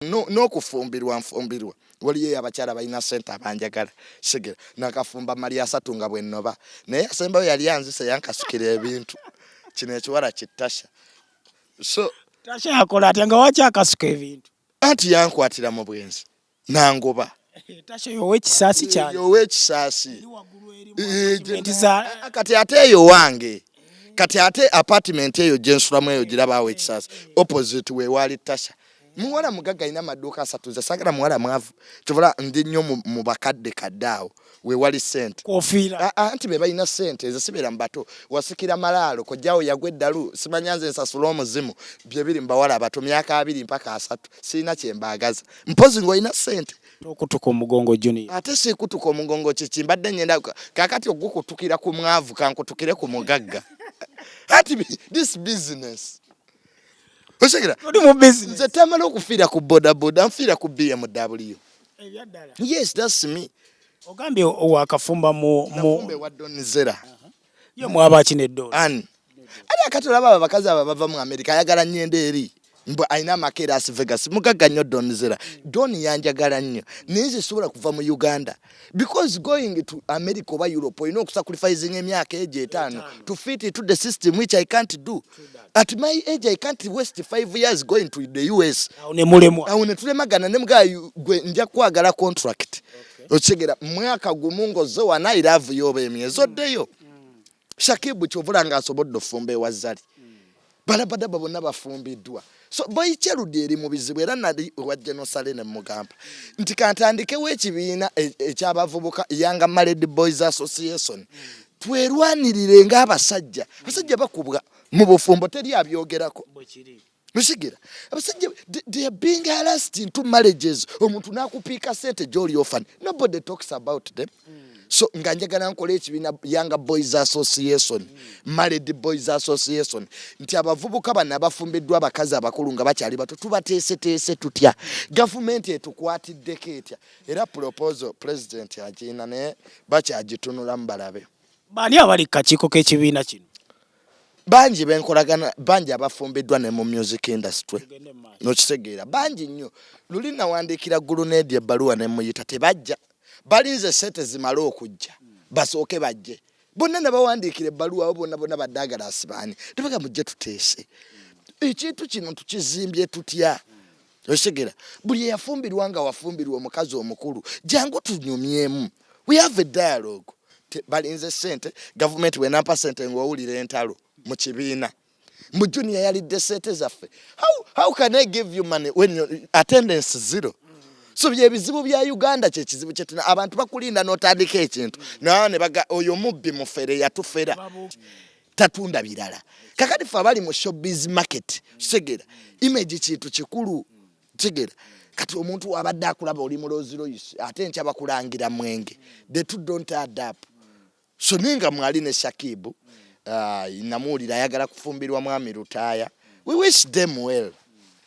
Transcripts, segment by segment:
n'okufumbirwa nfumbirwa waliyo abakyala balina sente abanjagala sigera nakafumba mali asatu nga bwenoba naye asembayo yali anzise yankasikira ebintu kino ekiwala kitasha so tasha yakola atya nga waki akasuka ebintu anti yankwatira mu bwenzi nangoba tasha yowa ekisaasi kyange yowa ekisaasi kati ate eyo wange kati ate apartment eyo gyensulamu eyo girabawo ekisaasi opposite wewaali tasha muwala mugagga alina amaduuka asatu nze sagala muwala mwavu kyobola ndi nnyo mu bakadde kadde awo wewali sente kofiira anti be balina sente nze sibeera mu bato wasikira malaalo kojjawo yagwa eddalu simanya nze nsasula omuzimu bye biri mu bawala abato myaka abiri mpaka asatu sirina kye mbaagaza mpozi ng'olina sente okutuka omugongo juni ate sikutuka omugongo kiki mbadde ngenda kakati ogukutukira ku mwavu kankutukire ku mugagga ati this business otegera oli mu business nze tamala okufiira ku boda boda nfiira ku BMW ebyaddala yes that's me ogambye wakafumba mu mu wa donzera uh -huh. yo mwaba kine do an ali akatola baba bakazi aba bava mu America ayagala nyende eri mbu alina amaka e Las Vegas mugagga nnyo Don Zera Don yanjagala nnyo naye nze sobola kuva mu Uganda because going to America oba Europe olina okusacrificing emyaka egyo etaano to fit into the system which I can't do at my age I can't waste five years going to the US awo netulemagana ne mga gwe nja kwagala contract okitegeera mwaka gumu ng'ozze wana I love you oba emyezo ddeyo shakibu kyovula nga asobodde ofumba ewa zali hmm. balabadaba bonna bafumbiddwa so boyikyerudi eri mu bizibu era nali ewa genosale ne mugamba nti kantandikewo ekibiina e, ekyabavubuka yanga maled boys association hmm. twerwanirire ngaabasajja abasajja bakubwa mu bufumbo teri abyogerako Okitegera abasajja they are being harassed into marriages omuntu nakupiika sente gyoli ofan nobody talks about them mm. so nga njagala nkola ekibiina young boys association mm. married boys association nti abavubuka bano abafumbiddwa abakazi abakulu nga bakyali bato tubateeseteese tutya gavumenti etukwatiddeko etya era proposal president agiina naye bakyagitunulamu balabe baani abali kakiiko k'ekibiina kino bangi benkolagana bangi abafumbiddwa ne mu music industry nokitegeera bangi nnyo luli nawandiikira ggulu needi ebbaluwa ne muyita tebajja balinze sente zimale okujja basooke bajje bonna nabawandiikira ebbaluwa abo bonna bonna baddaagala asibaani tebaga mujje tuteese ekintu kino tukizimbye tutya okitegera buli eyafumbirwa nga wafumbirwa omukazi omukulu jangu tunyumyemu we have a dialogue balinze sente gavumenti bwenampa sente ngaowulira entalo mu kibiina mbu junior yalidde sente zaffe how, how can i give you money when your attendance zero so byebizibu bya uganda kyekizibu kyetuna abantu bakulinda notandika ekintu naye oyo mubbi mufere yatufera tatunda birala kakati fe abali mu showbiz market kitegera image kintu kikulu kitegera kati omuntu wabadde akulaba oli muloziroyisi ate enkya bakulangira mwenge the two don't add up so ninga mwali ne shakibu uh, namuwulira ayagala kufumbirwa mwami lutaaya we wish them well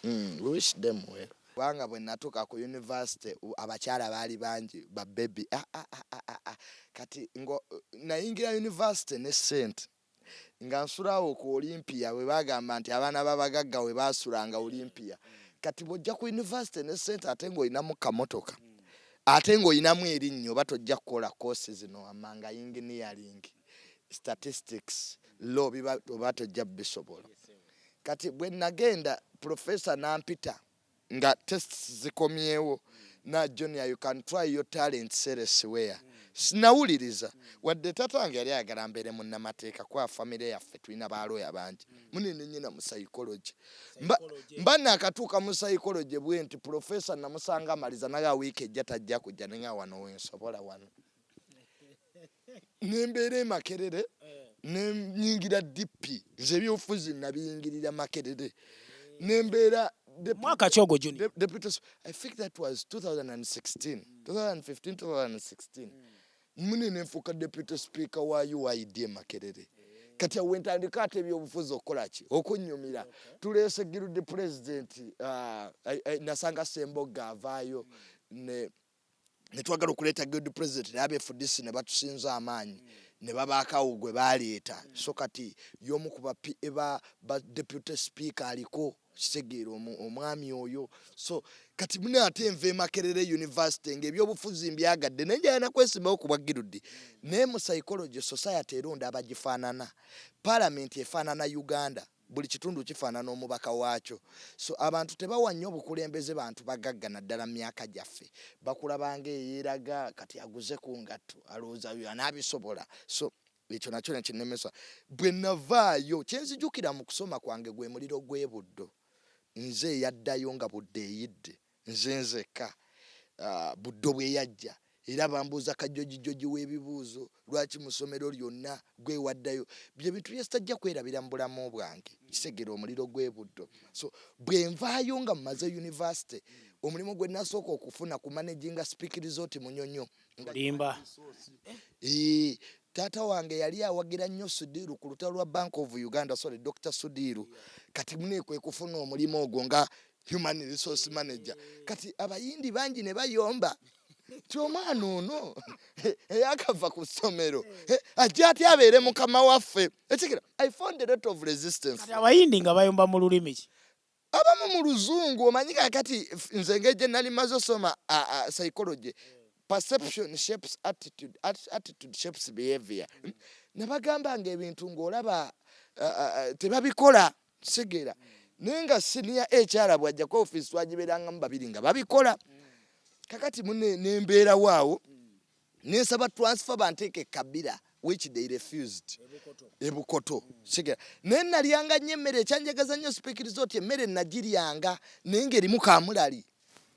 mm, we wish them well Kubanga bwe natuuka ku yunivasite abakyala baali bangi ba bbebi. Kati nga nayingira yunivasite ne ssente nga nsula awo ku Olympia bwe baagamba nti abaana b'abagagga we baasulanga Olympia. Kati bw'ojja ku yunivasite ne ssente ate ng'olinamu kamotoka ate ng'olinamu erinnyo oba tojja kukola kkoosi zino wammanga yinginiyalingi, statistics, law biba oba tojja bisobola. kati bwe nagenda professor nampita nga tests zikomyewo na junior you can try your talent seresiwea sinawuliriza wadde tata wange yali ayagala mbeere munnamateeka kuba famire yaffe tulina balooya bangi munene nyina mu psychology mba nakatuuka mu psychology bwenti professor namusanga amaliza naga wiiki ejja tajja kujja nenga wano wensobola wano nembeera emakerere nenyingira dp nze ebyobufuzi nabiyingirira makerere nembeera mwaka ki ogwo juni i think that was 2016 2015 2016 mune nenfuuka deputy speaker wa uid e makerere kati awo wentandika ate ebyobufuzi okukolaki okunyumira tuleese giludi pulezidenti uh, nasanga sembogga avaayo ne netwagala okuleeta guild president naye abefudisi ne batusinza amaanyi ne babaakawo gwe baleeta so kati y'omu ku bapa ba deputy speaker aliko kitegeera omwami oyo so kati mune ate enva emakerere university ngaebyobufuzi mbyagadde naye njayana kwesimbawo ku bwagirudi naye mu psychology society eronda abagifaanana palamenti efaanana uganda buli kitundu kifaanana omubaka waakyo so abantu tebawa nnyo bukulembeze bantu bagagga naddala mu myaka gyaffe bakulabanga eyeeraga kati aguze ku ngatto alowooza yo anaabisobola so ekyo nakyo nekinnemesa bwe navaayo kyenzijukira mu kusoma kwange gwe muliro gw'ebuddo nze eyaddayo nga budde eyidde Nze nzekka ah, Buddo bwe yajja era bambuuza kajjojijjoji w'ebibuuzo, lwaki mu ssomero lyonna gwe waddayo. Bye bintu bye sitajja kwerabira mu bulamu bwange. Kisegere omuliro gw'e Buddo. So bwe nvaayo nga mmaze yunivasite, omulimu gwe nasooka okufuna ku managinga Speke Resort Munyonyo. Olimba. Ee, taata wange yali awagira nnyo Sudiru ku lutalo lwa Bank of Uganda, sorry, Dr. Sudiru. Kati mune kwe kufuna omulimu ogwo nga human resource manager kati abayindi bangi ne bayomba ti omwana ono eyakava ku ssomero ajja ati abeere mukama waffe ekikira i found a lot of resistance abayindi nga bayomba mu lulimi ki abamu mu luzungu omanyi kakati nze ngeje nali maze osoma psychology perception shapes attitude attitude shapes behavior nabagamba nga ebintu ngaolaba tebabikola kitegeera naye nga siniya ekyala bwajjako ofiisi twagibeerangamu babiri nga babikola kakati mune nembeerawo awo nensaba transfer banteeke kabira which they refused ebukoto kitegeera naye nalyanga nnyo emmere ekyanjagaza nnyo sipikiriza oti emmere nagiryanga naye nga erimu kamulali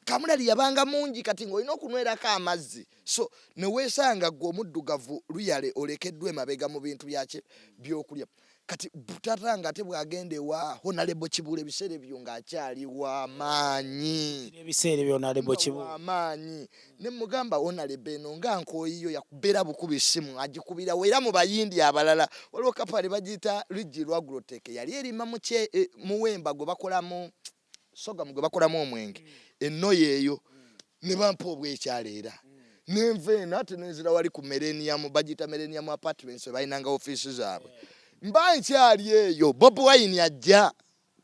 kamulali yabanga mungi kati ng'olina okunwerako amazzi so neweesanga gwe omuddugavu luyale olekeddwa emabega mu bintu byaki byokulya kati butata nga ate bwagenda ewa honalebo kibula ebiseera ebyo ng'akyali wamaanyiamaanyi ne mugamba honalebo eno nga nkoyiyo yakubeera bukuba essimu agikubira wera mu bayindi abalala waliwo kapale bagiyita lujji lwaguloteke yali erima e, muwemba gwe bakolamu mu sogamu gwe bakolamu omwenge mm. ennoyo eyo mm. ne bampa obwekyalo era mm. nenva eno ate nenzira wali ku mereniamu bagiyita mereniamu apartments ebalinanga ofiisi zaabwe mba nkyali eyo bob wine ajja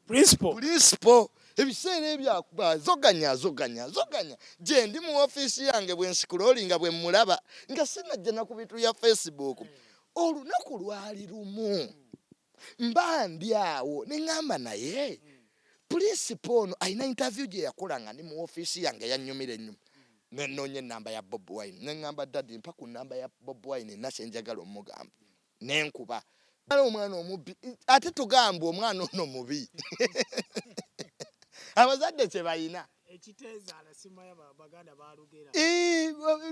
principal ebiseera ebyakuba zoganya zoganya zoganya gyendi mu ofiisi yange bwensikula oli nga bwe mmulaba nga sinajja na ku bintu bya facebook olunaku lwali lumu mba ndi awo ne ŋŋamba naye pulinsipa ono alina intaviyu gye yakola nga ndi mu ofiisi yange yanyumira enyuma nenoonya enamba ya bob wine ne ŋŋamba dadi mpa ku namba ya bob wine ena kyenjagala omugamba nenkuba ala omwana omubbi ate tugamba omwana ono mubi abazadde kye balina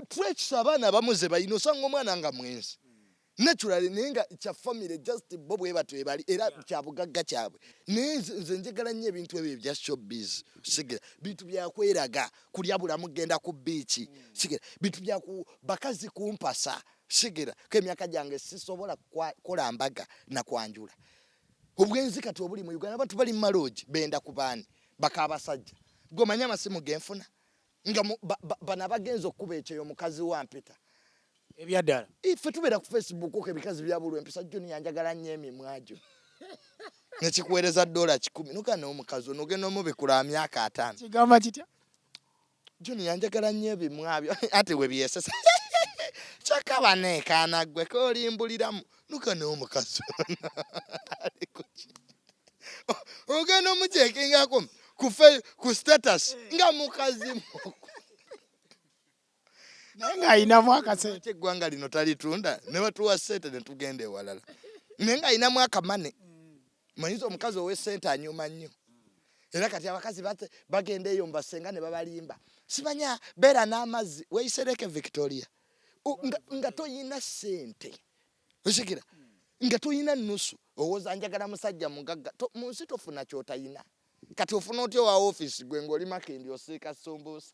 twekisa abaana abamu ze balina osanga omwana nga mwenzi naturally naye nga kya family just bo bwe batyo ebali era kya bugagga kyabwe naye nze njagala nnyo ebintu ebyo ebya showbiz sigera bintu byakweraga kulya bulamu genda ku biiki sigera bintu bya bakazi kumpasa sigera ko emyaka gyange sisobola kukola mbaga na kwanjula obwenzi kati obuli mu uganda abantu bali mu maloogi benda ku baani bakaabasajja gwe omanyi amasimu genfuna nga bano abagenza okukuba ekyeyo mukazi wampita ebyaddala ffe tubeera ku facebook ko ebikazi byabulwa empisa joni yanjagala nnyo emimwa gyo nekikuweereza dola kikumi noga nomukazi onogenda omubikula myaka ataano kigamba kitya joni yanjagala nnyo ebimwabyo ati webyesesa kyokka baneekaana ggwe kolimbuliramu luka naye omukazi ogenda omukyekingako ku status nga mukazi naye ng'alinamu akasente eggwanga lino talitunda ne batuwa sente ne tugenda ewalala naye ng'alinamu akamane manyiza omukazi owesente anyuma nnyo era kati abakazi bagenda eyo mubasenga ne babalimba simanya beera n'amazzi weyisereke victoria nga toyina sente osikira nga toyina nusu owoza njagala musajja mugagga mu nsi tofuna kyotayina kati ofuna otya owa ofiisi gwe ngaoli makindi osiika sumbuusa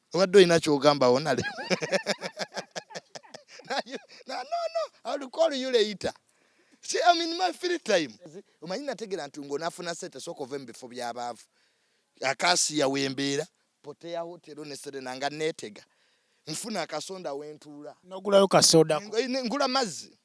obadde olina kyogamba wonale nono alikol you later si am in my free time omanyi nategera nti ngaonafuna sente soka ove mubifo byabaavu akasiya wembeera poteya hotero neserena nga netega nfuna akasonda wentuula nogulayo kasoda ngula mazzi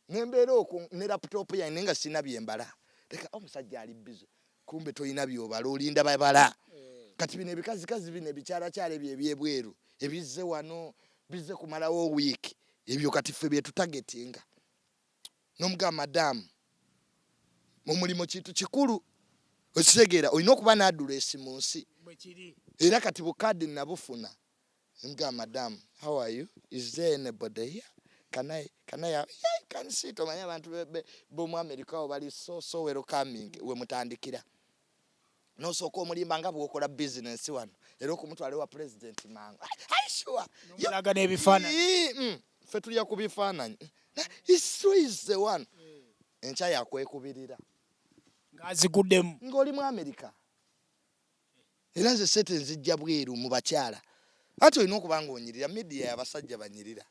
nembeera okwo ne laptop yange naye nga sirina byembala leka omusajja ali bize kumbe tolina byobala olinda babala eh. kati bino ebikazikazi bino ebikyalakyala ebyo ebyebweru ebizze wano bizze kumalawo wiiki ebyo kati ffe byetutagetinga nomuga madamu mumulimu kintu kikulu okitegeera olina okuba nadula esi mu nsi era kati bukadi nabufuna Mga madam, how are you? Is there anybody here? Can I, can I have, yeah, you can see to manya bantu bebe, bomu Amerika obali so, so wero coming, we mutandikira. No so ko muli manga buko la business wano. Ero ko mutu alewa president manga. Are you sure? Yo laga ne bifana. Mm, fe tuli ya kubifana. It's true is the one. Encha ya kwe kubirira. Ngazi gudem. Ngoli mu Amerika. era nze sete nzijja bweru mu bakyala ate olina okuba nga onyirira media yabasajja banyirira